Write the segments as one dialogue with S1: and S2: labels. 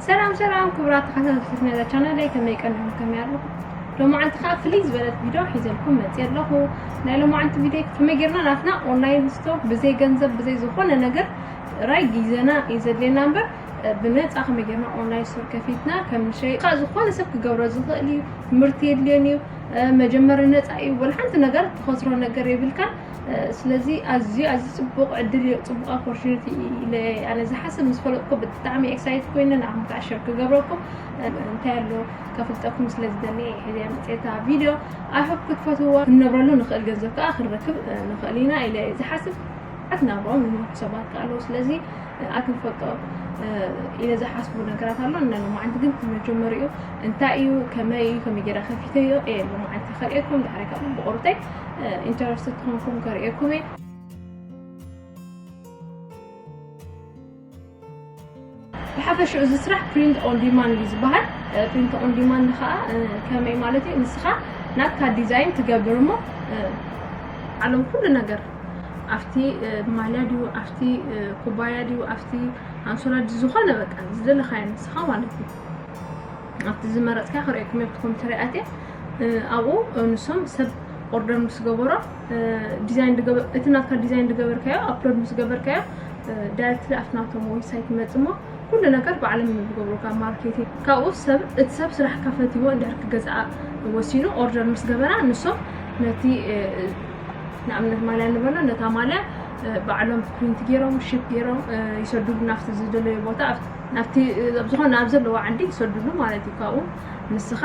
S1: ሰላም ሰላም ክቡራት ተኸታተልቲ ናይዛ ቻናለይ ከመይ ቀኒኹም ከመይ ኣለኹም ሎማዓንቲ ከዓ ፍልይ ዝበለት ቪድዮ ሒዘልኩም መፅየ ኣለኹ ናይ ሎማዓንቲ ቪድዮ ከመይ ጌርና ናትና ኦንላይን ስቶር ብዘይ ገንዘብ ብዘይ ዝኾነ ነገር ጥራይ ግዜና እዩ ዘድልየና እምበር ብነፃ ከመይ ጌርና ኦንላይን ስቶር ከፊትና ከም ንሸይጥ ካብ ዝኾነ ሰብ ክገብሮ ዝኽእል እዩ ምህርቲ የድልዮን እዩ መጀመሪ ነፃ እዩ ወላ ሓንቲ ነገር ትኸስሮ ነገር የብልካን ስለዚ ኣዝዩ ኣዝዩ ጽቡቕ ዕድል እዩ ጽቡቕ ኣፖርቹኒቲ ኢለ ኣነ ዝሓስብ ምስ ፈለጥኩ ብጣዕሚ ኤክሳይት ኮይነ ንዓኹም ከዓ ሸር ክገብረኩም እንታይ ኣሎ ከፍልጠኩም ስለ ዝደሊ ሕዚያ መፅታ ቪድዮ ኣይሆፕ ክትፈትውዎ ክንነብረሉ ንኽእል ገንዘብ ከዓ ክንረክብ ንኽእል ኢና ኢለ ዝሓስብ ኣትናብሮም ንምርሑ ሰባት ከዓ ኣለዉ ስለዚ ኣቲ ክፈልጦ ኢለ ዝሓስቡ ነገራት ኣሎ እና ሎማዓንቲ ግን እቲ መጀመሪኡ እንታይ እዩ ከመይ እዩ ከመይ ጌራ ከፊተዮ እየ ሎማዓንቲ ከርእየኩም ድሕሪ ካብ ብቑርጠይ ኢንተረስት ትኾንኩም ከርእየኩም እየ ብሓፈሽኡ እዚ ስራሕ ፕሪንት ኦን ዲማንድ እዩ ዝበሃል ፕሪንት ኦን ዲማንድ ከዓ ከመይ ማለት እዩ ንስኻ ናትካ ዲዛይን ትገብር እሞ ዓለም ኩሉ ነገር ኣብቲ ማልያ ድዩ ኣብቲ ኩባያ ድዩ ኣብቲ ኣንሶላ ዝኾነ በቃ ዝደለኻዮ ንስኻ ማለት እዩ ኣብቲ ዝመረፅካ ክርእየኩም እየ ብትኹም ትሪኣት ኣብኡ ንሶም ሰብ ኦርደር ምስ ገበሮ ዲዛይን እቲ ናትካ ዲዛይን ዝገበርካዮ ኣፕሎድ ምስ ገበርካዮ ዳይሬክትሊ ኣብቲ ናቶም ዌብሳይት ይመፅእ እሞ ኩሉ ነገር ባዕሎም እዮም ዝገብሩካ ማርኬቲንግ ካብኡ ሰብ እቲ ሰብ ስራሕካ ፈትዎ እንድሕር ክገዝኣ ወሲኑ ኦርደር ምስ ገበራ ንሶም ነቲ ንኣብነት ማልያ ንበሎ ነታ ማልያ ባዕሎም ፕሪንት ገይሮም ሽፕ ገይሮም ይሰድሉ ናብቲ ዝደለዩ ቦታ ናብቲ ኣብ ዝኾነ ኣብ ዘለዎ ዓዲ ይሰድሉ ማለት እዩ ካብኡ ንስኻ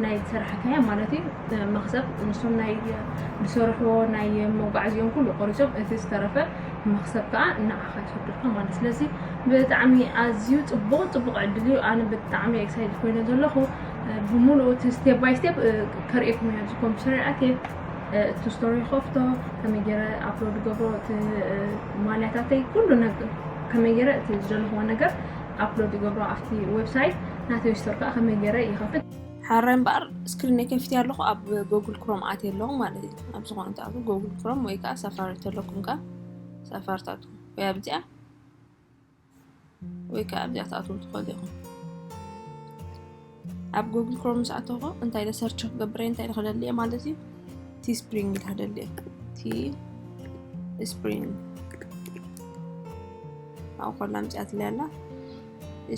S1: ናይ ሰራሕካያ ማለት እዩ መክሰብ ንሶም ናይ ዝሰርሕዎ ናይ መጓዓዝኦም ኩሉ ቆሪሶም እቲ ዝተረፈ መክሰብ ከዓ ንዓኻ ይሰድልካ ማለት ስለዚ ብጣዕሚ ኣዝዩ ፅቡቅ ፅቡቅ ዕድል እዩ ኣነ ብጣዕሚ ኤክሳይድ ኮይነ ዘለኹ ብምሉኡ እቲ ስቴፕ ባይ ስቴፕ ከርእየኩም እያ እዚ ኮምፒተር ኣትየ እቲ ስቶሪ ይኸፍቶ ከመይ ገይረ ኣፕሎድ ገብሮ እቲ ማልያታተይ ኩሉ ከመይ ገይረ እቲ ዝደለኹዎ ነገር ኣፕሎድ ይገብሮ ኣብቲ ዌብሳይት ናተይ ስቶር ከዓ ከመይ ገይረ ይኸፍት ሓራይ እምበኣር ስክሪነይ ከፊት ኣለኹ ኣብ ጎግል ክሮም ኣት ኣለኹ ማለት እዩ ኣብ ዝኾነ ትኣት ጎግል ክሮም ወይ ከዓ ሳፋሪ ተለኩም ከዓ ሳፋሪ ትኣት ወይ ኣብዚኣ ወይ ከዓ ኣብዚኣ ትኣትዉ ትኽእሉ ኢኹም። ኣብ ጉግል ክሮም ምስ ኣተኹ እንታይ ኢለ ሰርች ክገብር እየ እንታይ ኢለ ክደሊ እየ ማለት እዩ ቲ ስፕሪንግ ኢለ ክደሊ እየ ቲ ስፕሪንግ ኣብኡ ኮላ ምፅኣትለይ ኣላ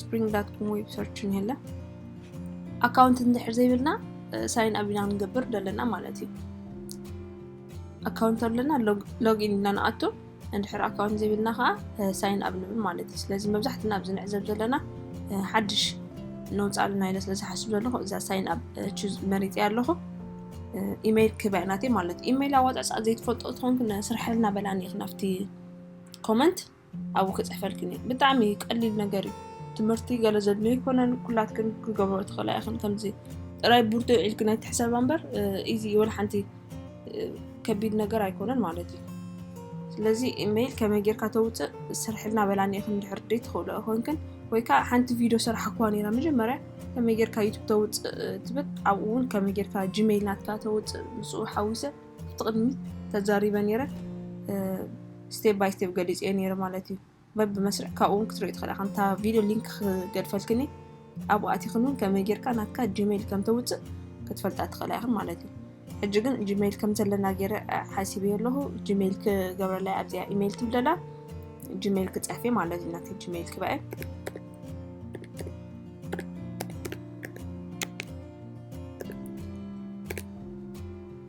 S1: ስፕሪንግ ዳት ኮም ዌብ ሰርች ንሄለ ኣካውንት እንድሕር ዘይብልና ሳይን ኣብ ኢና ክንገብር ደለና ማለት እዩ ኣካውንት ኣለና ሎግኢን ኢልና ንኣቱ እንድሕር ኣካውንት ዘይብልና ከዓ ሳይን ኣብ ንብል ማለት እዩ ስለዚ መብዛሕትና ኣብዚ ንዕዘብ ዘለና ሓድሽ ነውፃልና ኢለ ስለ ዝሓስብ ዘለኹ እዛ ሳይን ኣብ ቹዝ መሪፀ ኣለኹ ኢመይል ክህባ ኢና ናተይ ማለት እዩ ኢመይል ኣዋፃፃእ ዘይትፈልጦ ትኾንኩ ስርሐልና በላኒ ኢኽ ናብቲ ኮመንት ኣብኡ ክፅሕፈልክን እዩ ብጣዕሚ ቀሊል ነገር እዩ ትምህርቲ ገለ ዘድልዮ ይኮነን ኩላትክን ክገብሮ ትኽእላ ኢኽን ከምዚ ጥራይ ቡርቶ ዒልክን ኣይትሕሰባ እምበር ኢዚ ወላ ሓንቲ ከቢድ ነገር ኣይኮነን ማለት እዩ ስለዚ ኢመይል ከመይ ጌርካ ተውፅእ ስርሕልና በላኒ ኢኽን ድሕር ደይ ትኽእሉ ኮንክን ወይ ከዓ ሓንቲ ቪድዮ ስራሕ እኳ ነራ መጀመርያ ከመይ ጌርካ ዩቱብ ተውፅእ ትብል ኣብኡ እውን ከመይ ጌርካ ጂሜይል ናትካ ተውፅእ ምስኡ ሓዊሰ ብትቕድሚት ተዛሪበ ነረ ስቴፕ ባይ ስቴፕ ገሊፅ እየ ነረ ማለት እዩ በብመስርዕ ካብኡ እውን ክትሪኦ ትኽእል ኢኻ እንታ ቪድዮ ሊንክ ክገድፈልክኒ ኣብኡ ኣቲኽን እውን ከመይ ጌርካ ናትካ ጂሜይል ከም ተውፅእ ክትፈልጣ ትኽእላ ኢኽን ማለት እዩ ሕጂ ግን ጂሜይል ከም ዘለና ገይረ ሓሲበ ኣለኹ ጂሜይል ክገብረላ ኣብዚኣ ኢሜይል ትብለላ ጂሜይል ክፀፊ ማለት እዩ ናተይ ጂሜይል ክበአ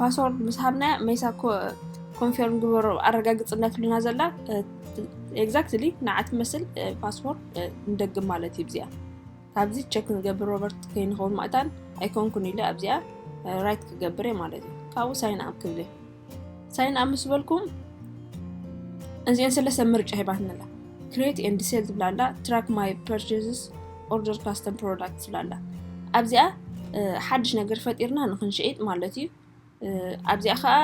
S1: ፓስወርድ ምስ ሃብናያ ሜሳ ኮንፌርም ግበሮ ኣረጋግፅ እንዳትሉና ዘላ ኤግዛክትሊ ንዓ ትመስል ፓስወርድ ንደግም ማለት እዩ ብዚኣ ካብዚ ቸክ ንገብር ሮበርት ከይንኸውን ማእታን ኣይኮንኩን ኢለ ኣብዚኣ ራይት ክገብር እየ ማለት እዩ ካብኡ ሳይን ኣብ ክብል እየ ሳይን ኣብ ምስ በልኩም እዚአን ሰለስተ ምርጫ ሂባትና ኣላ ክሬት ኤንድ ሴል ትብላ ኣላ ትራክ ማይ ፐርቸስስ ኦርደር ካስተም ፕሮዳክት ትብል ኣላ ኣብዚኣ ሓድሽ ነገር ፈጢርና ንክንሸይጥ ማለት እዩ ኣብዚኣ ከዓ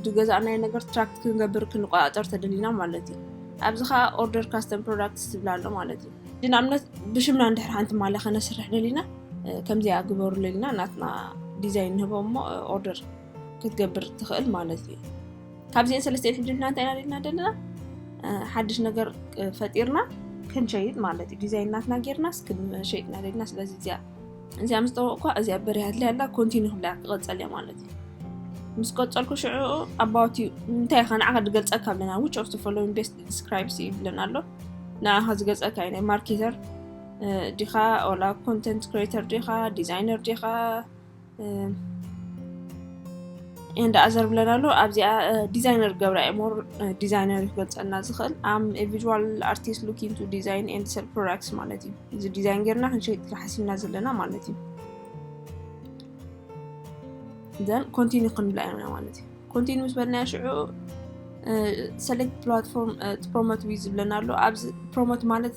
S1: ዝገዛእናዮ ነገር ትራክት ክንገብር ክንቆፃፀር ተደሊና ማለት እዩ ኣብዚ
S2: ከዓ ኦርደር ካስተም ፕሮዳክት ትብል ኣሎ ማለት እዩ ንኣብነት ብሽምና እንድሕር ሓንቲ ማልያ ከነስርሕ ደሊና ከምዚኣ ግበሩ ለሊና ናትና ዲዛይን ንህቦ እሞ ኦርደር ክትገብር ትኽእል ማለት እዩ ካብዚኤን ሰለስቲኤን ሕጂ ንሕና እንታይ ኢና ሪኢና ዘለና ሓድሽ ነገር ፈጢርና ክንሸይጥ ማለት እዩ ዲዛይን ናትና ጌርናስ ክንሸይጥ ኢና ደልና ስለዚ እዚኣ እዚኣ ምስ ጠወቕኳ እዚኣ በሪያ ኣድልያ ኣላ ኮንቲኒ ክብላ ክቐፀል እያ ማለት እዩ ምስ ቀፀልኩ ሽዕኡ ኣባውት እዩ እንታይ ኢኻ ንዓኻ ድገልፀካ ኣለና ዊች ኦፍ ፎሎዊን ቤስት ዲስክራይብስ እዩ ይብለና ኣሎ ንዓኻ ዝገልፀካ እዩ ናይ ማርኬተር ዲኻ ኦላ ኮንተንት ክሬተር ዲኻ ዲዛይነር ዲኻ እንዳ ኣዘር ብለን ኣሎ ኣብዚኣ ዲዛይነር ገብራ ሞር ዲዛይነር ይገልፀልና ዝኽእል ኣም ቪዥዋል ኣርቲስት ሉኪን ቱ ዲዛይን ኤንድ ሰል ፕሮዳክትስ ማለት እዩ እዚ ዲዛይን ጌርና ክንሸይጥ ሓሲብና ዘለና ማለት እዩ ዘን ኮንቲኒ ክንብላ ኢና ማለት እዩ ኮንቲኒ ምስ በልና ሽዑ ሰሌክት ፕላትፎርም ፕሮሞት ዊዝ ዝብለና ኣሎ ኣብዚ ፕሮሞት ማለት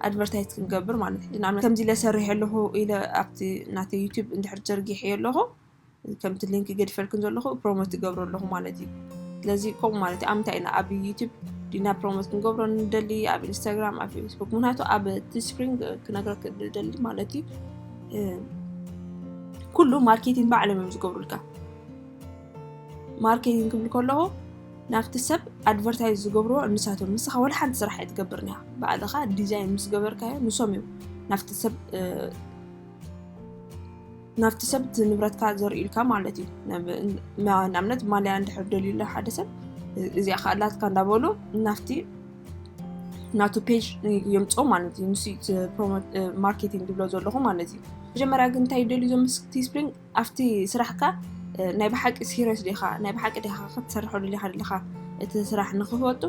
S2: ኣድቨርታይዝ ክንገብር ማለት እዩ ንኣብነት ከምዚ ኢለ ሰሪሐ ኣለኹ ኢለ ኣብቲ ናተይ ዩቱብ እንድሕር ዘርጊሐዮ ኣለኹ ከምቲ ሊንክ ገድፈልክን ዘለኹ ፕሮሞት ትገብሮ ኣለኹ ማለት እዩ ስለዚ ከምኡ ማለት እዩ ኣብ ምንታይ ኢና ኣብ ዩቱብ ዲና ፕሮሞት ክንገብሮ ንደሊ ኣብ ኢንስታግራም ኣብ ፌስቡክ ምክንያቱ ኣብ እቲ ስፕሪንግ ክነግረክ ንደሊ ማለት እዩ ኩሉ ማርኬቲንግ ባዕሎም እዮም ዝገብሩልካ ማርኬቲንግ ክብል ከለኹ ናብቲ ሰብ ኣድቨርታይዝ ዝገብርዎ ንሳቶም ንስኻ ወላ ሓንቲ ስራሕ ኣይትገብርን ኢኻ ባዕልኻ ዲዛይን ምስ ገበርካዮ ንሶም እዮም ናብቲ ሰብ ናብቲ ሰብ እቲ ንብረትካ ዘርእዩልካ ማለት እዩ ንኣብነት ማልያ እንድሕር ደልዩላ ሓደ ሰብ እዚኣ ከዓ ኣላትካ እንዳበሉ ናብቲ ናቱ ፔጅ የምፆ ማለት እዩ ንሱ ማርኬቲንግ ዝብሎ ዘለኹ ማለት እዩ መጀመርያ ግን እንታይ ደልዩ ዞም ቲ ስፕሪንግ ኣብቲ ስራሕካ ናይ ብሓቂ ሲሪየስ ዲኻ ናይ ብሓቂ ዲኻ ክትሰርሖ ደሊኻ ደለኻ እቲ ስራሕ ንክፈቱ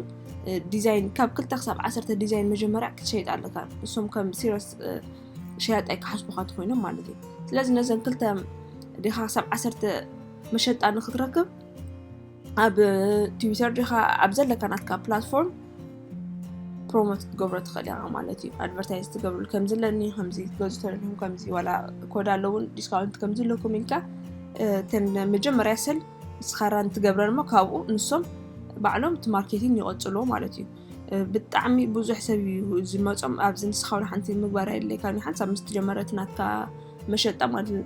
S2: ዲዛይን ካብ ክልተ ክሳብ ዓሰርተ ዲዛይን መጀመርያ ክትሸይጥ ኣለካ እሶም ከም ሲሪየስ ሸያጣይ ክሓስቡካ ትኮይኖም ማለት እዩ ስለዚ ነዘን ክልተ ዲኻ ክሳብ ዓሰርተ መሸጣ ንክትረክብ ኣብ ትዊተር ዲካ ኣብ ዘለካ ናትካ ፕላትፎርም ፕሮሞት ክትገብሮ ትኽእል ኢኻ ማለት እዩ ኣድቨርታይዝ ትገብሩ ከምዚ ኣለኒ ከምዚ ገዙ ተለኹም ከምዚ ዋላ ኮዳ ኣለውን ዲስካውንት ከምዚ ኣለኩም ኢልካ ተን መጀመርያ ሰል ስኻራን ትገብረን እሞ ካብኡ ንሶም ባዕሎም እቲ ማርኬቲን ይቐፅልዎ ማለት እዩ ብጣዕሚ ብዙሕ ሰብ እዩ ዝመፆም ኣብዚ ንስኻ ሓንቲ ምግባር የድልየካ ሓንሳብ ምስ ትጀመረት ናትካ መሸጣ ማለት እዩ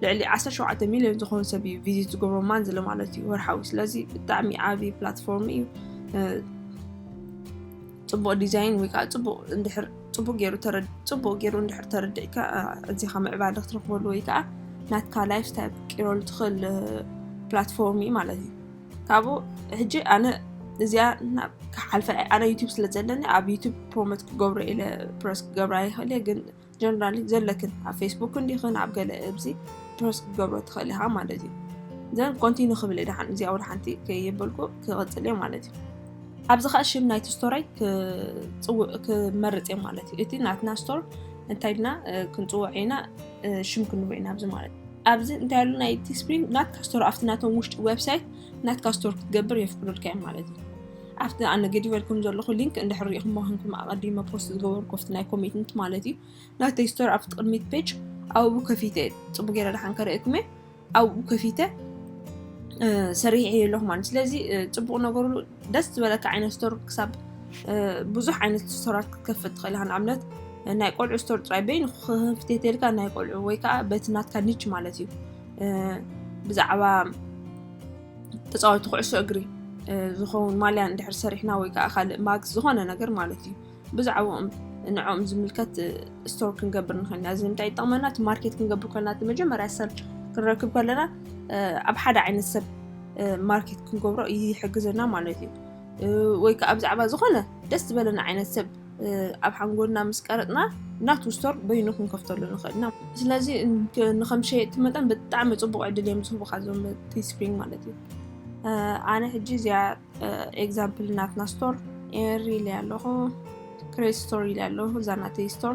S2: ልዕሊ ዓሰርተ ሸውዓተ ሚልዮን ዝኾኑ ሰብ እዩ ቪዚት ዝገብሮ ማንዝሊ ማለት እዩ ወርሓዊ ስለዚ ብጣዕሚ ዓብዪ ፕላትፎርም እዩ ፅቡቅ ዲዛይን ወይ ከዓ ፅቡቅ እንድሕር ፅቡቅ ገይሩ ፅቡቅ ገይሩ እንድሕር ተረዲዕካ እዚካ ምዕባለ ክትረክበሉ ወይ ከዓ ናትካ ላይፍ ስታይል ክትቅይረሉ ትኽእል ፕላትፎርም እዩ ማለት እዩ ካብኡ ሕጂ ኣነ እዚኣ ክሓልፈ ኣነ ዩቱብ ስለ ዘለኒ ኣብ ዩቱብ ፕሮሞት ክገብሮ ኢለ ፕረስ ክገብራ ይኽእል እየ ግን ጀነራሊ ዘለክን ኣብ ፌስቡክ እንዲኽን ኣብ ገለ እብዚ ፕሮስ ክትገብሮ ትኽእል ኢኻ ማለት እዩ ዘን ኮንቲኑ ክብል ድሓን እዚ ኣውል ሓንቲ ከይበልኩ ክቕፅል እየ ማለት እዩ ኣብዚ ከዓ ሽም ናይቲ ስቶራይ ክመርፅ እየ ማለት እዩ እቲ ናትና ስቶር እንታይ ድና ክንፅውዕ ኢና ሽም ክንብ ኢና ኣብዚ ማለት ኣብዚ እንታይ ሉ ናይቲ ስፕሪን ናትካ ስቶር ኣብቲ ናቶም ውሽጢ ዌብሳይት ናትካ ስቶር ክትገብር የፍቅዱልካ እዮም ማለት እዩ ኣብቲ ኣነ ገዲፈልኩም ዘለኹ ሊንክ እንድሕር ሪኢኹሞ ክንኩም ኣቐዲመ ፖስት ዝገበርኩ ኣብቲ ናይ ኮሚትንት ማለት እዩ ናተይ ስቶር ኣብቲ ቅድሚት ፔጅ ኣብኡ ከፊተ ፅቡ ገይረ ድሓን ከርእየኩም እየ ኣብኡ ከፊተ ሰሪሕ እየ ኣለኹ ማለት ስለዚ ፅቡቕ ነገሩ ደስ ዝበለካ ዓይነት ስቶር ክሳብ ብዙሕ ዓይነት ስቶራት ክትከፍት ትኽእል ኢኻ ንኣብነት ናይ ቆልዑ ስቶር ጥራይ በይኑ ክፍቴቴልካ ናይ ቆልዑ ወይ ከዓ በቲ ናትካ ኒች ማለት እዩ ብዛዕባ ተፃወቲ ኩዕሶ እግሪ ዝኸውን ማልያ እንድሕር ሰሪሕና ወይ ከዓ ካልእ ማግዝ ዝኾነ ነገር ማለት እዩ ብዛዕባኦም ንዕኦም ዝምልከት ስቶር ክንገብር ንኽእል ኢና እዚ ንምንታይ ይጠቕመና እቲ ማርኬት ክንገብር ከለና እቲ መጀመርያ ሰብ ክንረክብ ከለና ኣብ ሓደ ዓይነት ሰብ ማርኬት ክንገብሮ ይሕግዘና ማለት እዩ ወይ ከዓ ብዛዕባ ዝኾነ ደስ ዝበለና ዓይነት ሰብ ኣብ ሓንጎልና ምስ ቀረፅና ናቱ ስቶር በይኑ ክንከፍተሉ ንኽእል ኢና ስለዚ ንከም ሸየጥቲ መጠን ብጣዕሚ ፅቡቅ ዕድል እዮም ዝህቡካ ዞም ቲስፕሪንግ ማለት እዩ ኣነ ሕጂ እዚያ ኤግዛምፕል ናትና ስቶር ኤሪ ኢለ ኣለኹ ክሬት ስቶር ኢለ ኣለኹ እዛ ናተይ ስቶር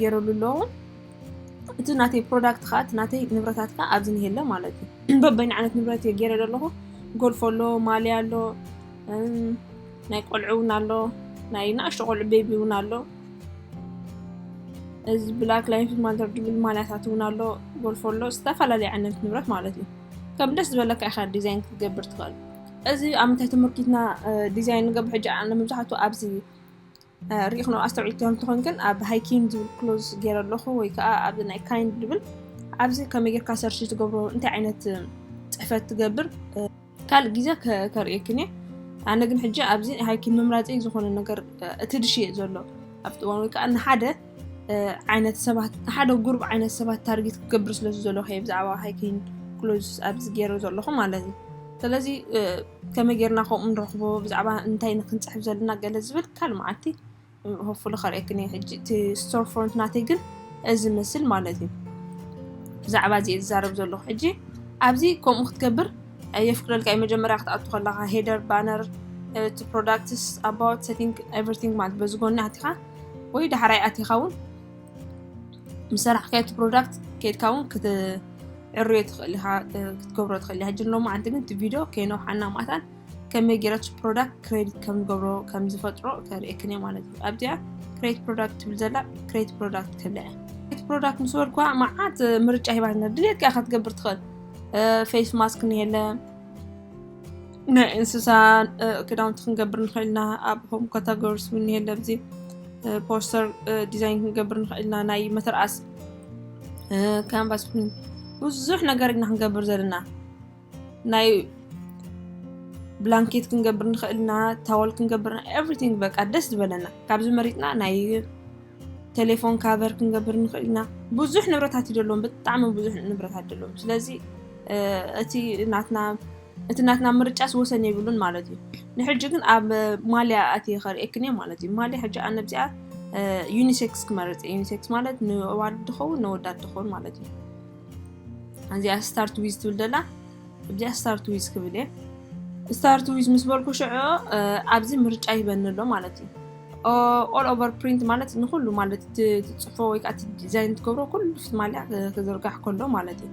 S2: ገይረሉ ኣሎ እውን እቲ ናተይ ፕሮዳክት ከዓ እቲ ናተይ ንብረታት ከዓ ኣብዚ እኒሀ ኣሎ ማለት እዩ በበይኑ ዓይነት ንብረት እየ ገይረ ዘለኹ ጎልፎ ኣሎ ማልያ ኣሎ ናይ ቆልዑ እውን ኣሎ ናይ ንእሽቶ ቆልዑ ቤቢ እውን ኣሎ እዚ ብላክ ላይፍ ማተር ድብል ማልያታት እውን ኣሎ ጎልፎ ኣሎ ዝተፈላለዩ ዓይነት ንብረት ማለት እዩ ከም ደስ ዝበለካ ኢኻ ዲዛይን ክትገብር ትኽእል እዚ ኣብ ምንታይ ትምህርቲትና ዲዛይን ንገብር ሕጂ ኣነ መብዛሕትኡ ኣብዚ ሪኢክኖ ኣስተውዒልክዮ እንተኾይንክን ኣብ ሃይኪን ዝብል ክሎዝ ገይረ ኣለኹ ወይ ከዓ ኣብዚ ናይ ካይን ዝብል ኣብዚ ከመይ ጌርካ ሰርች ትገብሮ እንታይ ዓይነት ፅሕፈት ትገብር ካልእ ግዜ ከርእየክን እየ ኣነ ግን ሕጂ ኣብዚ ሃይኪን ምምራፂ ዝኾነ ነገር እቲ ድሽ እየ ዘሎ ኣብቲ እዋን ወይ ከዓ ንሓደ ዓይነት ሰባት ሓደ ጉሩብ ዓይነት ሰባት ታርጌት ክገብር ስለዚ ዘለኹ እየ ብዛዕባ ሃይኪን ክሎዝ ኣብዚ ገይረ ዘለኹ ማለት እዩ ስለዚ ከመይ ጌርና ከምኡ ንረኽቦ ብዛዕባ እንታይ ንክንፅሕፍ ዘለና ገለ ዝብል ካል መዓልቲ ሆፉሉ ከርእየክን እየ ሕጂ እቲ ስቶር ፍሮንት ናተይ ግን እዚ ምስል ማለት እዩ ብዛዕባ እዚ እየ ዝዛረብ ዘለኹ ሕጂ ኣብዚ ከምኡ ክትገብር የፍቅደልካ እዩ መጀመርያ ክትኣቱ ከለካ ሄደር ባነር እቲ ፕሮዳክትስ ኣባውት ሰቲንግ ኤቨሪቲንግ ማለት በዚ ጎኒ ኣቲኻ ወይ ዳሕራይ ኣቲኻ እውን ምስ ሰራሕካዮ እቲ ፕሮዳክት ከድካ እውን ክትዕርዮ ትኽእል ኢኻ ክትገብሮ ትኽእል ኢኻ ጅን ሎማ ዓንቲ ግን እቲ ቪድዮ ከይነውሓና ማታን ከመይ ገይረች ፕሮዳክት ክሬዲት ከም ንገብሮ ከም ዝፈጥሮ ከርእየክን እየ ማለት እዩ ኣብዚኣ ክሬት ፕሮዳክት ትብል ዘላ ክሬት ፕሮዳክት ክብላ እየ ክሬት ፕሮዳክት ምስ በልኳ መዓት ምርጫ ሂባት ድሌትካ ክትገብር ትኽእል ፌስ ማስክ ንየለ ናይ እንስሳ ክዳውንቲ ክንገብር ንኽእል ኢና ኣብ ሆም ካታጎሪስ እውን እኒሀ ኣብዚ ፖስተር ዲዛይን ክንገብር ንኽእል ኢና ናይ መተርኣስ ካንቫስ ብዙሕ ነገር ኢና ክንገብር ዘለና ናይ ብላንኬት ክንገብር ንኽእል ኢና ታወል ክንገብር ኤቭሪቲንግ በቃ ደስ ዝበለና ካብዚ መሪፅና ናይ ቴሌፎን ካቨር ክንገብር ንኽእል ኢና ብዙሕ ንብረታት እዩ ደለዎም ብጣዕሚ ብዙሕ ንብረታት ደለዎም ስለዚ እቲ ናትና እቲ ናትና ምርጫስ ወሰን የብሉን ማለት እዩ ንሕጂ ግን ኣብ ማልያ ኣትየ ከርእየክን እየ ማለት እዩ ማልያ ሕጂ ኣነ ብዚኣ ዩኒሴክስ ክመርፅ እየ ዩኒሴክስ ማለት ንዋልድ ድኸውን ንወዳድ ድኸውን ማለት እዩ እዚኣ ስታርት ዊዝ ትብል ደላ እዚኣ ስታርት ዊዝ ክብል እየ ስታርት ዊዝ ምስ በልኩ ሽዑ ኣብዚ ምርጫ ይበኒ ኣሎ ማለት እዩ ኦል ኦቨር ፕሪንት ማለት ንኩሉ ማለት ትፅፎ ወይ ከዓ ዲዛይን ትገብሮ ኩሉ ፍትማልያ ክዝርጋሕ ከሎ ማለት እዩ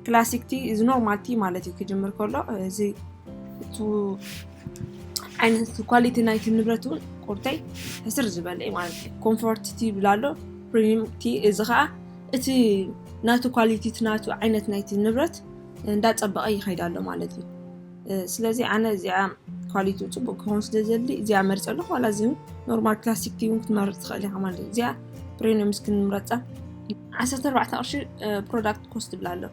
S2: ክላሲክ ቲ እዚ ኖርማል ቲ ማለት እዩ ክጅምር ከሎ እዚ እቲ ዓይነት ኳሊቲ ናይቲ ንብረት እውን ቁርተይ ሕስር ዝበለ እዩ ማለት እዩ ኮምፎርት ቲ ይብል ኣሎ ፕሪሚየም ቲ እዚ ከዓ እቲ ናቱ ኳሊቲ እቲ ናቱ ዓይነት ናይቲ ንብረት እንዳፀበቐ ይኸይድ ኣሎ ማለት እዩ ስለዚ ኣነ እዚኣ ኳሊቲ ፅቡቅ ክኸውን ስለ ዘድሊ እዚኣ መርፀ ኣለኹ ዋላ እዚ ኖርማል ክላሲክ ቲ እውን ክትመርፅ ትኽእል ኢኻ ማለት እዩ እዚኣ ፕሬኒየም እስኪ ንምረፃ ዓሰርተ ኣርባዕተ ቅርሺ ፕሮዳክት ኮስት ትብላ ኣሎ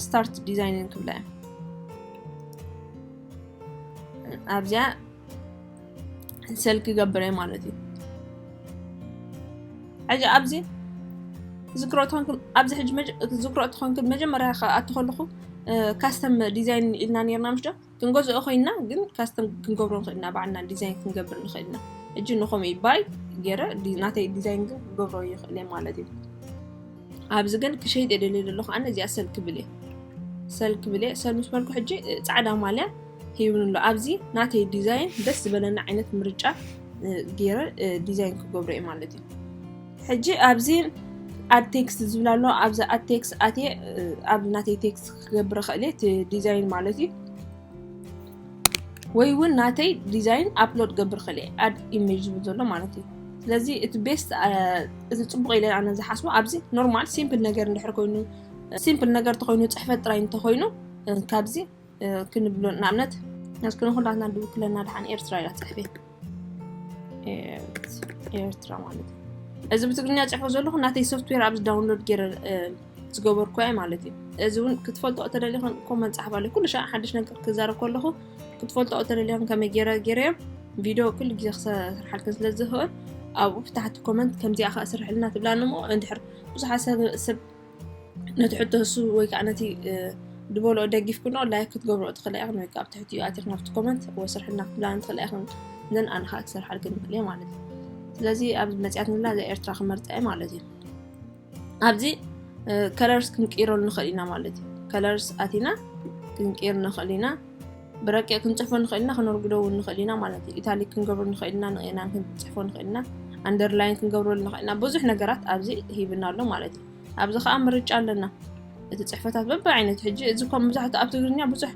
S2: ስታርት ዲዛይንን ክብላ እዮም ኣብዚኣ ሰልክ ገብረ ማለት እዩ ሕጂ ኣብዚ ዝክሮ ትኾንኩም ኣብዚ ሕጂ ዝክሮ ትኾንኩም መጀመርያ ክኣቱ ከለኹ ካስተም ዲዛይን ኢልና ነርና ምሽ ዶ ክንገዝኦ ኮይና ግን ካስተም ክንገብሮ ንኽእልና ባዕልና ዲዛይን ክንገብር ንኽእልና እጂ ንኸምኡ ባይ ገይረ ናተይ ዲዛይን ግን ክገብሮ ይኽእል ማለት እዩ ኣብዚ ግን ክሸይጥ እየ ደልየ ዘለኹ ኣነ እዚኣ ሰል ክብል እየ ሰል ክብል እየ ሰል ምስ በልኩ ሕጂ እ፣ ጻዕዳ ማልያ ሂብኒ ኣሎ ኣብዚ ናተይ ዲዛይን ደስ ዝበለኒ ዓይነት ምርጫ እ፣ ገይረ እ፣ ዲዛይን ክገብሮ እየ ማለት እዩ ሕጂ ኣብዚ ኣብ ቴክስት ዝብል ኣሎ ኣብዚ ኣብ ቴክስት ኣትየ እ፣ ኣብ ናተይ ቴክስት ክገብር እኽእል እየ እቲ ዲዛይን ማለት እዩ ወይ ውን ናተይ ዲዛይን ኣፕሎድ ክገብር ይኽእል እየ ኣድ ኢሜጅ ዝብል ዘሎ ማለት እዩ ስለዚ እቲ ቤስት እቲ ፅቡቅ ኢለ ኣነ ዝሓስቦ ኣብዚ ኖርማል ሲምፕል ነገር እንድሕር ኮይኑ ሲምፕል ነገር እንተኮይኑ ፅሕፈት ጥራይ እንተኮይኑ ካብዚ ክንብሎ ንኣብነት እስኪ ንኩላትና ድውክለና ድሓን ኤርትራ ኢላ ትፅሕፍ እየ ኤርትራ ማለት እዩ እዚ ብትግርኛ ፅሕፎ ዘለኹ ናተይ ሶፍትዌር ኣብዚ ዳውንሎድ ገይረ ዝገበርኩ እየ ማለት እዩ እዚ እውን ክትፈልጦ እተደልዮ ኮመንት ፀሓፍ ኣለዩ ኩሉ ሻዕ ሓድሽ ነገር ክዛረብ ከለኹ ክትፈልጦ እተደልዮ ከመይ ገይረ ገይረዮ ቪድዮ ኩሉ ግዜ ክሰርሓልክ ስለ ዝኽእል ኣብኡ ብታሕቲ ኮመንት ከምዚኣ ከዓ ስርሕልና ትብላኒ እሞ እንድሕር ብዙሓት ሰብ ነቲ ሕቶ እሱ ወይ ከዓ ነቲ ዝበልኦ ደጊፍክኖ ላይክ ክትገብሮ ትኽእላ ኢኹን ወይ ከዓ ትሕቲኡ ኣቲኽ ናብቲ ኮመንት ወይ ስርሕና ክትብላን ትኽእላ ኢኹን ዘን ኣነ ከዓ ክሰርሓልክ ንኽእል እየ ማለት እዩ ስለዚ ኣብዚ መፅያትንላ እዛ ኤርትራ ክመርፃ እየ ማለት እዩ ኣብዚ ከለርስ ክንቅይረሉ ንኽእል ኢና ማለት እዩ ከለርስ ኣቲና ክንቅይር ንኽእል ኢና ብረቂቕ ክንጽሕፎ ንኽእል ኢና፣ ክነርጉዶ እውን ንኽእል ኢና ማለት እዩ። ኢታሊክ ክንገብሮ ንኽእል ኢና፣ ንቒና ክንጽሕፎ ንኽእል ኢና፣ ኣንደርላይን ክንገብረሉ ንኽእል ኢና፣ ብዙሕ ነገራት ኣብዚ ሂብና ኣሎ ማለት እዩ። ኣብዚ ከኣ ምርጫ ኣለና። እቲ ጽሕፈታት በብዓይነቱ ሕጂ እዚ እኳ መብዛሕትኡ ኣብ ትግርኛ ብዙሕ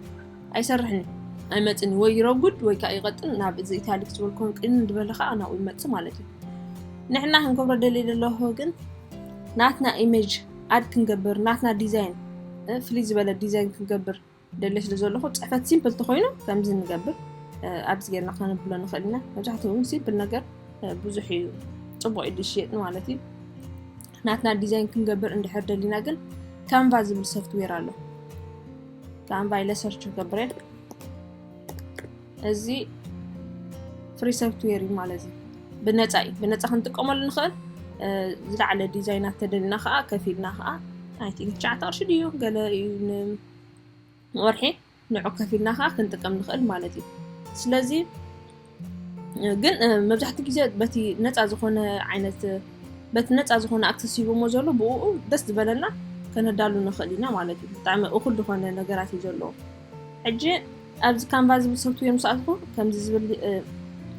S2: ኣይሰርሕን እዩ። ኣይመጽን እዩ ወይ ይረጉድ ወይ ከኣ ይቐጥን ናብ እዚ ኢታሊክ ዝበል ኮን ቅን ዝበለ ከኣ ናብኡ ይመጽእ ማለት እዩ። ንሕና ክንገብሮ ደልየ ዘለኹ ግን ናትና ኢሜጅ ኣድ ክንገብር ናትና ዲዛይን ፍልይ ዝበለ ዲዛይን ክንገብር ደልየ ስለ ዘለኹ ፅሕፈት ሲምፕል ተኾይኑ ከምዚ ንገብር ኣብዚ ጌርና ከነብሎ ንኽእል ኢና መብዛሕትኡ እውን ሲምፕል ነገር ብዙሕ እዩ ፅቡቅ እዩ ዝሽየጥ ማለት እዩ ናትና ዲዛይን ክንገብር እንድሕር ደሊና ግን ካንቫ ዝብል ሶፍትዌር ኣሎ ካንቫ ኢለ ሰርች ክገብረ እዚ ፍሪ ሶፍትዌር እዩ ማለት እዩ ብነፃ እዩ ብነፃ ክንጥቀመሉ ንኽእል ዝለዓለ ዲዛይናት ተደሊና ከዓ ከፊልና ከዓ ኣይ ቲንክ ትሽዓተ ቅርሺ ድዩ ገለ እዩ ወርሒ ንዑ ከፊልና ከዓ ክንጥቀም ንኽእል ማለት እዩ ስለዚ ግን መብዛሕትኡ ግዜ በቲ ነፃ ዝኾነ ዓይነት በቲ ነፃ ዝኾነ ኣክሰስ ሂቦሞ ዘሎ ብኡ ደስ ዝበለና ከነዳሉ ንኽእል ኢና ማለት እዩ ብጣዕሚ እኹል ዝኾነ ነገራት እዩ ዘለዎ ሕጂ ኣብዚ ካንቫ ዝብል ሶፍትዌር ምስ ኣትኹ ከምዚ ዝብል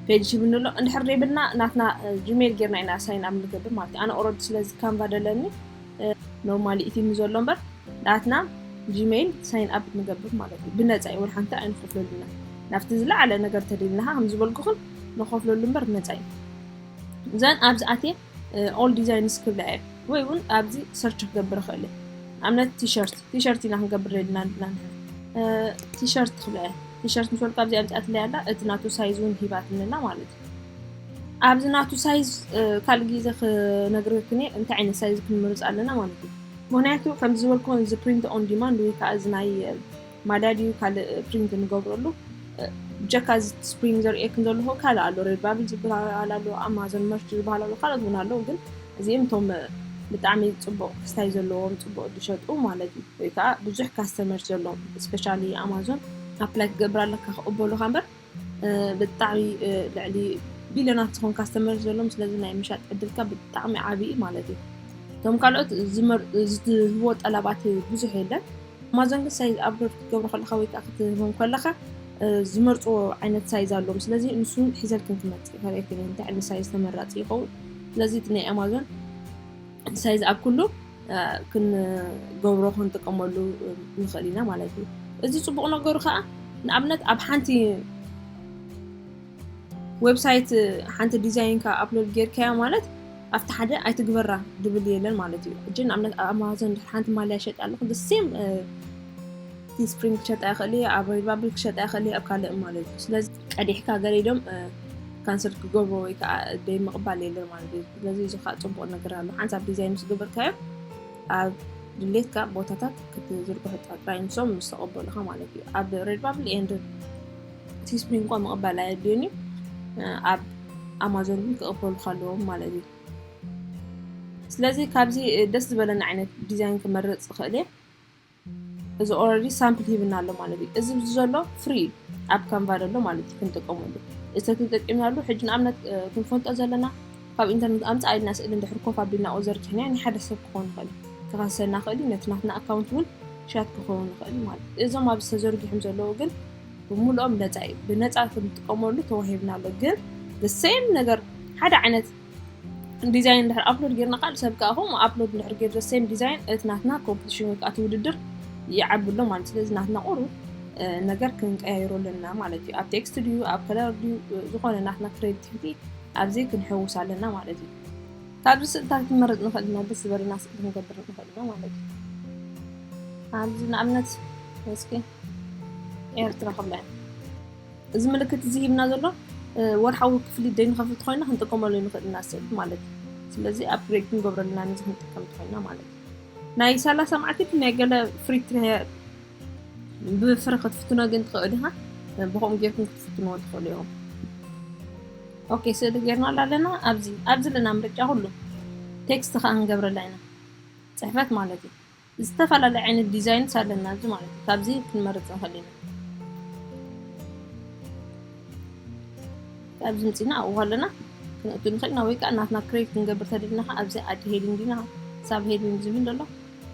S2: ፔጅ ሂብኒ ኣሎ እንድሕር ዘይብልና ናትና ጂሜል ጌርና ኢና ሳይን ኣብ ንገብር ማለት እዩ ኣነ ኦረዲ ስለዚ ካንቫ ደለኒ ኖርማሊ ኢቲሚ ዘሎ እምበር ናትና ጂሜይል ሳይን ኣፕ ንገብር ማለት እዩ ብነፃ እዩ ወላ ሓንቲ ኣይንከፍለሉና ናብቲ ዝለዓለ ነገር ተደልና ከም ዝበልኩኽን ንኸፍለሉ እምበር ብነፃ እዩ እዘን ኣብዚ ኣትየ ኦል ዲዛይንስ ክብላ እየ ወይ እውን ኣብዚ ሰርች ክገብር ይኽእል እየ ኣብነት ቲሸርት ቲሸርት ኢና ክንገብር ደልና ንብላ ቲሸርት ክብላ እየ ቲሸርት ምስ በልኩ ኣብዚ ኣምፅኣትለይ ኣላ እቲ ናቱ ሳይዝ እውን ሂባትኒ ኣላ ማለት ኣብዚ ናቱ ሳይዝ ካልእ ግዜ ክነግርክን እየ እንታይ ዓይነት ሳይዝ ክንምርፅ ኣለና ማለት እዩ ምክንያቱ ከም ዝበልኩ እዚ ፕሪንት ኦን ዲማንድ ወይ ከዓ እዚ ናይ ማዳድ እዩ ካልእ ፕሪንት ንገብረሉ ብጀካ እዚ ስፕሪንግ ዘርእየክን ዘለኹ ካልእ ኣሎ ሬድባብል ዝበሃል ኣሎ ኣማዞን መርች ዝበሃል ኣሎ ካልኦት እውን ኣለዉ ግን እዚኦም እቶም ብጣዕሚ ፅቡቅ ክስታይ ዘለዎም ፅቡቅ ዝሸጡ ማለት እዩ ወይ ከዓ ብዙሕ ካስተመር ዘለዎም ስፔሻሊ ኣማዞን ኣፕላይ ክገብር ኣለካ ክቕበሉካ እምበር ብጣዕሚ ልዕሊ ቢልዮናት ዝኾን ካስተመር ዘለዎም ስለዚ ናይ ምሻጥ ዕድልካ ብጣዕሚ ዓብዪ እዩ ማለት እዩ እቶም ካልኦት ዝህቦ ጠላባት ብዙሕ የለን ኣማዞን ግን ሳይዝ ኣፕሎድ ክትገብሮ ከለካ ወይ ከዓ ክትህቦም ከለካ ዝመርፅዎ ዓይነት ሳይዝ ኣለዎም ስለዚ ንሱ ሒዘልክን ክመፅእ ይኽእል እንታይ ዓይነት ሳይዝ ተመራፂ ይኸውን ስለዚ እቲ ናይ ኣማዞን እቲ ሳይዝ ኣብ ኩሉ ክንገብሮ ክንጥቀመሉ ንኽእል ኢና ማለት እዩ እዚ ፅቡቕ ነገሩ ከዓ ንኣብነት ኣብ ሓንቲ ዌብሳይት ሓንቲ ዲዛይንካ ኣፕሎድ ጌርካያ ማለት ኣብቲ ሓደ ኣይትግበራ ድብል የለን ማለት እዩ ሕጂ ንኣብነት ኣብ ኣማዞን ሓንቲ ማልያ ሸጥ ኣለኹ ሴም ቲስፕሪንግ ክሸጣ ይኽእል እየ፣ ኣብ ሬድባብል ክሸጣ ይኽእል እየ፣ ኣብ ካልእ ማለት እዩ። ስለዚ ቀዲሕካ ገሊሎም ካንሰል ክገብሮ ወይ ከዓ ደይ ምቕባል የለን ማለት እዩ። ስለዚ እዚ ከዓ ፅቡቕ ነገር ኣሎ። ሓንሳብ ዲዛይን ምስ ገበርካዮ ኣብ ድሌትካ ቦታታት ክትዝርግሑ ጥራይ ንሶም ምስ ተቐበሉኻ ማለት እዩ። ኣብ ሬድባብል ኤንድ ቲስፕሪንግ እኳ ምቕባል ኣየድልዮን እዩ። ኣብ ኣማዞን ግን ክቕበሉካ ኣለዎም ማለት እዩ። ስለዚ ካብዚ ደስ ዝበለኒ ዓይነት ዲዛይን ክመርፅ እኽእል እየ። እዚ ኦረዲ ሳምፕል ሂብና ኣሎ ማለት እዩ እዚ ብዚ ዘሎ ፍሪ እዩ ኣብ ካንቫ ዘሎ ማለት እዩ ክንጥቀመሉ እዚ ተጠቂምናሉ ሕጂ ንኣብነት ክንፈልጦ ዘለና ካብ ኢንተርነት ኣምፃ ኢልና ስእሊ እንድሕር ኮፍ ኣቢልና ኦዘርኪሕናዮ ናይ ሓደ ሰብ ክኸውን ይኽእል ክኸሰና ይኽእል እዩ ነቲ ናትና ኣካውንት እውን ሻት ክኸውን ይኽእል ማለት እዩ እዞም ኣብዚ ተዘርጊሖም ዘለዉ ግን ብምሉኦም ነፃ እዩ ብነፃ ክንጥቀመሉ ተዋሂብና ኣሎ ግን ሴም ነገር ሓደ ዓይነት ዲዛይን እንድሕር ኣፕሎድ ጌርና ካል ሰብ ከዓ ከምኡ ኣፕሎድ እንድሕር ጌር ዘሰም ዲዛይን እቲ ናትና ኮምፒቲሽን ወይ ከዓ እቲ ውድድር ይዓቢ ኣሎ ማለት ስለዚ ናትና ቁሩ ነገር ክንቀያይሮ ኣለና ማለት እዩ ኣብ ቴክስት ድዩ ኣብ ከለር ድዩ ዝኾነ ናትና ክሬቲቪቲ ኣብዚ ክንሕውስ ኣለና ማለት እዩ ካብዚ ስእልታት ክንመርፅ ንኽእል ኢና ደስ ዝበለና ስእሊ ክንገብር ንኽእል ኢና ማለት እዩ ኣብዚ ንኣብነት እስኪ ኤርትራ ክብላ እያ እዚ ምልክት እዚ ሂብና ዘሎ ወርሓዊ ክፍሊት ደይንኸፍል ኮይና ክንጥቀመሉ ንኽእል ኢና ሰብ ማለት እዩ ስለዚ ኣብ ብሬክ ክንገብረልና ነዚ ክንጥቀም ትኮይና ማለት እዩ ናይ ሰላሳ መዓልቲ ናይ ገለ ፍሪ ብፍሪ ክትፍትኖ ግን ትኽእል ኢኻ ብከምኡ ጌርኩም ክትፍትንዎ ትኽእሉ እዮም ኦኬ ስእሊ ጌርናላ ኣለና ኣብዚ ኣብዚ ኣለና ምርጫ ኩሉ ቴክስት ከዓ ክንገብረላ ኢና ፅሕፈት ማለት እዩ ዝተፈላለየ ዓይነት ዲዛይንስ ኣለና እዚ ማለት እዩ ካብዚ ክንመርፅ ንኽእል ኢና ኣብዚ ምፅና ኣብኡ ኣለና ክንእቱ ንኽእል ኢና ወይ ከዓ ናትና ክሬት ክንገብር ተደሊና ከዓ ኣብዚ ኣድ ሄዲንግ ኢና ሳብ ሄዲንግ ዝብል ዘሎ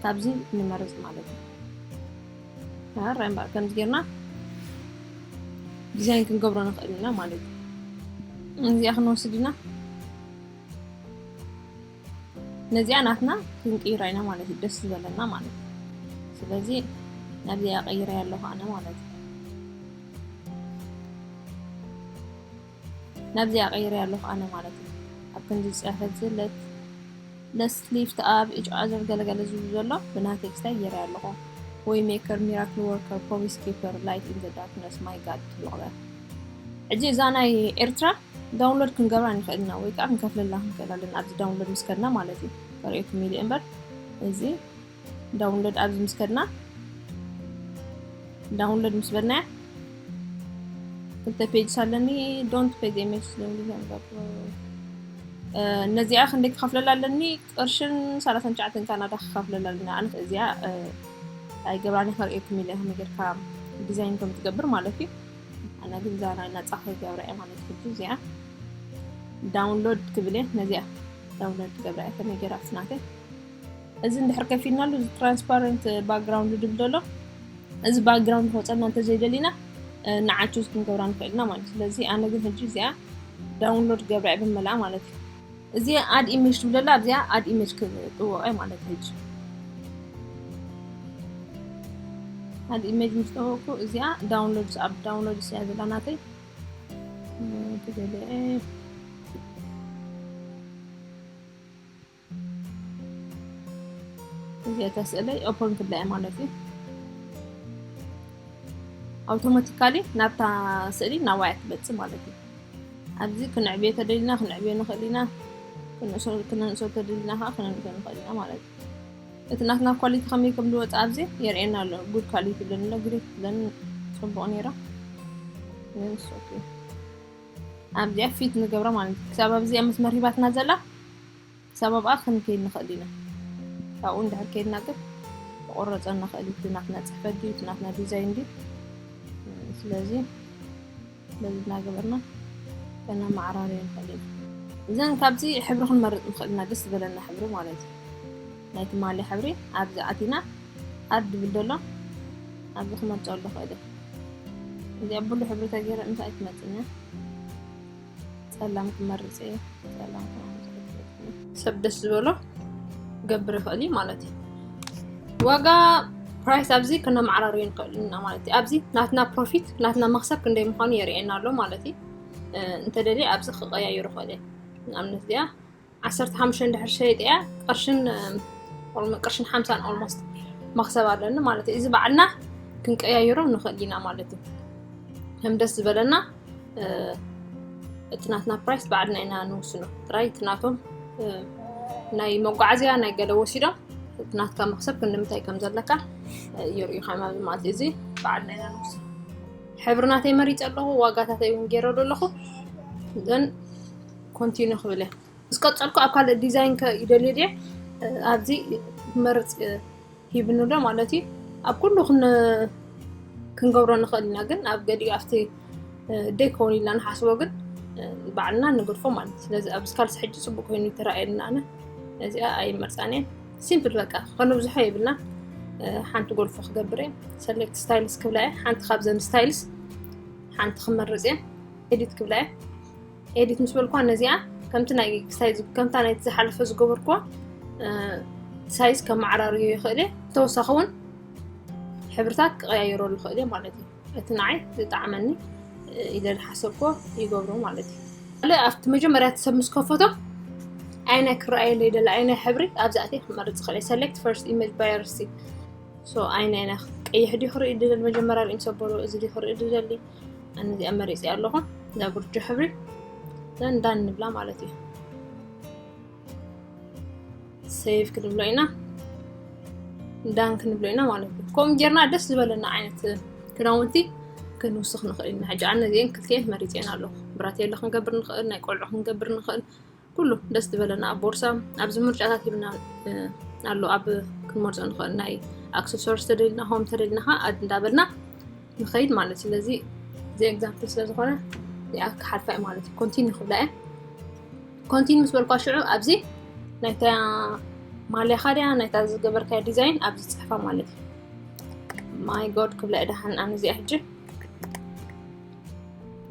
S2: ካብዚ ንመርፅ ማለት እዩ ራይ እምበኣር ከምዚ ጌርና ዲዛይን ክንገብሮ ንኽእል ኢና ማለት እዩ እዚኣ ክንወስድ ኢና ነዚኣ ናትና ክንቅይራ ኢና ማለት እዩ ደስ ዝበለና ማለት እዩ ስለዚ ናብዚኣ ቀይረ ኣለኹ ኣነ ማለት እዩ ናብዚኣ ቀይረ ኣለኹ ኣነ ማለት እዩ ኣብ ከምዚ ዝፀሐፍ ዝለት ለስሊፍት ኣብ እጭ ኣዘር ገለገለ ዝብ ዘሎ ብና ቴክስታይ ገይረ ኣለኹ ወይ ሜከር ሚራክል ወርከር ፕሮሚስ ኪፐር ላይት ኢን ዘ ዳርክነስ ማይ ጋድ ትብልቕበ ሕጂ እዛ ናይ ኤርትራ ዳውንሎድ ክንገብራ ንኽእል ኢና ወይ ከዓ ክንከፍለላ ክንክእል ኣለና ኣብዚ ዳውንሎድ ምስ ከድና ማለት እዩ ከርእየኩም ኢለ እምበር እዚ ዳውንሎድ ኣብዚ ምስ ከድና ዳውንሎድ ምስ በልናያ ክልተ ፔጅስ ኣለኒ ዶንት ፔጅ ኤምኤስ ነዚኣ ክንደይ ክኸፍለላ ኣለኒ ቅርሽን ሰላሳን ትሽዓተን ካናዳ ክከፍለላ ኣለኒ ኣነ እዚኣ ናይ ገብራኒ ከርእየኩም ኢለ ከመይ ጌርካ ዲዛይን ከም ትገብር ማለት እዩ ኣነ ግን እዛ ናይ ነፃ ክገብራ እየ ማለት ሕጂ እዚኣ ዳውንሎድ ክብል እየ ነዚኣ ዳውንሎድ ክገብራ እየ ከመይ ጌራ ስናተይ እዚ እንድሕር ከፊልናሉ እዚ ትራንስፓረንት ባክግራውንድ ድብል ዘሎ እዚ ባክግራውንድ ክወፀና እንተዘይደሊና ንዓችዝ ክንገብራ ንኽእል ኢና ማለት እዩ ስለዚ ኣነ ግን ሕጂ እዚኣ ዳውንሎድ ገብራ እየ ብመልኣ ማለት እዩ እዚ ኣድ ኢሜጅ ትብለላ ኣብዚኣ ኣድ ኢሜጅ ክጥወቀ ማለት እዩ ኣድ ኢሜጅ ምስ ጠወቅኩ እዚኣ ዳውንሎድ ኣብ ዳውንሎድ ስያ ዘላ ናተይ ትደልዐ እዚኣ ተስእለይ ኦፖን ክብላ እየ ማለት እዩ ኣውቶማቲካሊ ናብታ ስእሊ ናዋያ ትመፅእ ማለት እዩ ኣብዚ ክነዕብዮ ተደሊና ክነዕብዮ ንኽእል ኢና ክነንእሶ ተደሊና ከዓ ክነንእሶ ንኽእል ኢና ማለት እዩ እቲ ናትና ኳሊቲ ከመይ ከም ዝወፅ ኣብዚ የርእየና ኣሎ ጉድ ኳሊቲ ብለን ኣሎ ግሬት ብለን ፅቡቅ ነይራ ኣብዚኣ ፊት ንገብራ ማለት እዩ ክሳብ ኣብዚኣ መስመር ሂባትና ዘላ ክሳብ ኣብኣ ክንከይድ ንኽእል ኢና። ካብኡ እንድሕር ከይድና ግን ክቑረጸና ይኽእል እዩ። እቲ ናትና ጽሕፈት ድዩ እቲ ናትና ዲዛይን ድዩ? ስለዚ በዚ እናገበርና ከነመዓራርዮ ንኽእል ኢና። እዘን ካብዚ ሕብሪ ክንመርጽ ንኽእል ኢና፣ ደስ ዝበለና ሕብሪ ማለት እዩ። ናይ ትማሊ ሕብሪ ኣብዚ ኣቲና ኣድ ድብል ደሎ ኣብዚ ክመርጸሉ ክእል እየ። እዚኣ ብሉ ሕብሪ ተገይረ ምስ ኣይትመጽእን እያ። ጸላም ክመርጽ እየ ጸላም ክመርጽ እየ ሰብ ደስ ዝበሎ ክገብር ይኽእል እዩ ማለት እዩ ዋጋ ፕራይስ ኣብዚ ክነማዕራሩ ንኽእል ኢና ማለት እዩ ኣብዚ ናትና ፕሮፊት ናትና መክሰብ ክንደይ ምዃኑ የርእየና ኣሎ ማለት እዩ እንተደልየ ኣብዚ ክቀያየሩ ይኽእል እየ ንኣብነት እዚኣ ዓሰርተ ሓሙሽተ እንድሕር ሸይጠያ ቅርሽን ቅርሽን ሓምሳን ኦልሞስት መክሰብ ኣለኒ ማለት እዩ እዚ በዓልና ክንቀያየሮ ንኽእል ኢና ማለት እዩ ከም ደስ ዝበለና እቲ ናትና ፕራይስ በዓልና ኢና ንውስኖ ጥራይ እቲ ናቶም ናይ መጓዓዝያ ናይ ገለ ወሲዶም እቲ ናትካ መክሰብ ክንምታይ ከም ዘለካ የርእዩካ ማለት ማለት እዚ በዓልና ኢና ንውስኖ ሕብርናተይ መሪፀ ኣለኹ ዋጋታተይ እውን ገይረሉ ኣለኹ ዘን ኮንቲኑ ክብል እየ ምስ ቀፀልኩ ኣብ ካልእ ዲዛይን ከ ይደልይ ድየ ኣብዚ ክመርፅ ሂብኒ ዶ ማለት እዩ ኣብ ኩሉ ክንገብሮ ንኽእል ኢና ግን ኣብ ገዲኡ ኣብቲ ደይ ክኸውን ኢልና ንሓስቦ ግን ባዕልና ንገድፎ ማለት እዩ ስለዚ ኣብዚ ካልሲ ሕጂ ፅቡቅ ኮይኑ ይተረኣየልና ኣነ እዚኣ ኣይመርፃን እየ ሲምፕል በቃ ከነብዝሖ የብልና ሓንቲ ጎልፎ ክገብር እየ ሰሌክት ስታይልስ ክብላ እየ ሓንቲ ካብዘን ስታይልስ ሓንቲ ክመርፅ እየ ኤዲት ክብላ እየ ኤዲት ምስ በልኳ ነዚኣ ከምቲ ናይ ክስታይ ከምታ ናይቲ ዝሓለፈ ዝገበርክዋ ሳይዝ ከመዓራርዮ ይኽእል እየ ተወሳኺ እውን ሕብርታት ክቀያየረሉ ይኽእል እየ ማለት እዩ እቲ ንዓይ ዝጣዕመኒ ኢለ ዝሓሰብኮ ይገብሮ ማለት እዩ ካልእ ኣብቲ መጀመርያ እቲ ሰብ ምስ ከፈቶ ኣይናይ ክረኣየለይ ደለ ኣይናይ ሕብሪ ኣብዚ ኣትየ ክመርፅ ይኽእል እየ ሰሌክት ፈርስት ኢሜጅ ባየርሲ ኣይናይና ቀይሕ ድዩ ክርኢ ድደሊ መጀመርያ ርእም ሰበሎ እዚ ድዩ ክርኢ ድደሊ ኣነ እዚኣ መሪፅ ኣለኹ እዛ ጉርጆ ሕብሪ ዘንዳ ንብላ ማለት እዩ ሰይፍ ክንብሎ ኢና ዳን ክንብሎ ኢና ማለት እዩ ከምኡ ጌርና ደስ ዝበለና ዓይነት ክዳውንቲ ክንውስኽ ንኽእል ኢና ሕጂ ኣነ እዚአን ክልቲኤን መሪፅኤን ኣለኹ ብራቴለ ክንገብር ንኽእል ናይ ቆልዑ ክንገብር ንኽእል ኩሉ ደስ ዝበለና ኣብ ቦርሳ ኣብዚ ምርጫታት ሂብና ኣሎ ኣብ ክንመርፆ ንኽእል ናይ ኣክሰሶርስ ተደልና ሆም ተደልና ከዓ ኣድ እንዳበልና ንኸይድ ማለት ስለዚ እዚ ኤግዛምፕል ስለ ዝኾነ እዚኣ ክሓልፋ እዩ ማለት እዩ ኮንቲኒ ክብላ እየ ኮንቲኒ ምስ በልኳ ሽዑ ኣብዚ ናይታ ማልያኻ ድያ ናይታ ዝገበርካዮ ዲዛይን ኣብዚ ፅሕፋ ማለት እዩ ማይ ጎድ ክብላ እየ ድሓን ኣነ እዚኣ ሕጂ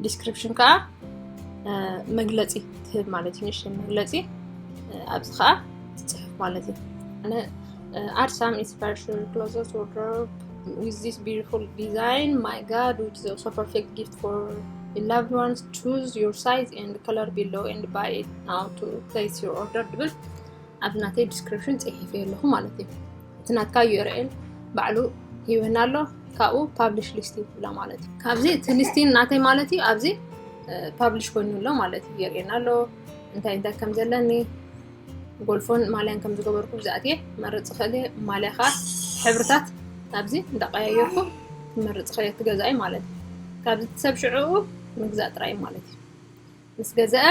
S2: ዲስክሪፕሽን ከዓ መግለፂ ትህብ ማለት እዩ ንእሽተይ መግለፂ ኣብዚ ከዓ ትፅሕፍ ማለት እዩ ኣነ ኣድ ሳም ኢንስፓሬሽን ክሎዘት ወርድሮብ ዊዝ ዚስ ቢዩቲፉል ዲዛይን ማይ ጋድ ዊች ኢዝ ኦልሶ ፐርፌክት ጊፍት ፎር ላቭድ ዋንስ ቹዝ ዮር ሳይዝ ኤንድ ከለር ቢሎ ኤንድ ባይ ኢት ናው ቱ ፕሌስ ዮር ኦርደር ትብል ኣብ ናተይ ዲስክሪፕሽን ፅሒፍ ኣለኹ ማለት እዩ እቲ ናትካ ዩርኤል ባዕሉ ሂወና ኣሎ ካብኡ ፓብሊሽ ሊስት ይብላ ማለት እዩ ካብዚ እቲ ሊስቲን ናተይ ማለት እዩ ኣብዚ ፓብሊሽ ኮይኑ ኣሎ ማለት እዩ የርእየና ኣሎ እንታይ እንታይ ከም ዘለኒ ጎልፎን ማልያን ከም ዝገበርኩ ብዛእት እየ መርፅ ክእል እየ ማልያ ከዓ ሕብርታት ኣብዚ እንዳቀያየርኩ መርፅ ክእል እየ ትገዛኢ ማለት እዩ ካብዚ ሰብ ሽዕኡ ምግዛእ ጥራይ ማለት እዩ ምስ ገዘአ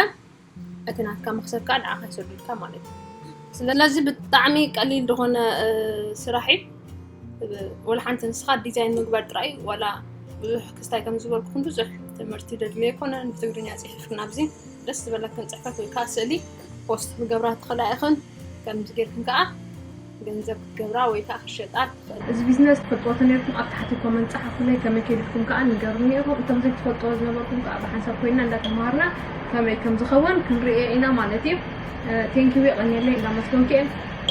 S2: እቲ ናትካ መክሰብ ከዓ ንዓካ ይሰዱልካ ማለት እዩ ስለዚ ብጣዕሚ ቀሊል ዝኾነ ስራሕ እዩ ወላ ሓንቲ ንስኻ ዲዛይን ምግባር ጥራይ ዋላ ብዙሕ ክስታይ ከም ዝበልኩኹም ብዙሕ ትምህርቲ ደድልዮ ኣይኮነን ብትግርኛ ፅሒፍክን ኣብዚ ደስ ዝበለክን ፅሕፈት ወይ ከዓ ስእሊ ፖስት ክገብራ ትኽእላ ኢኽን ከምዚ ጌርክን ከዓ ገንዘብ ክትገብራ ወይ ከኣ ክትሸጣ ትኽእላ። እዚ ቢዝነስ
S1: ትፈልጥዎ ተነርኩም ኣብ ታሕቲ ኮመንት ጸሓፉለይ ከመይ ከይድልኩም ከኣ ንገሩኒ ኢኹም እቶም ዘይትፈልጥዎ ዝነበርኩም ከኣ ብሓንሳብ ኮይና እንዳ ተማሃርና ከመይ ከም ዝኸውን ክንርእዮ ኢና ማለት እዩ ቴንኪው የቐንየለይ እንዳ መስገንኩ እየ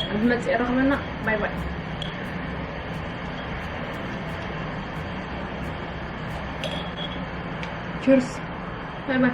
S1: ኣብ ዝመጽእ ረኽበና ባይ ባይ Cheers. Bye bye.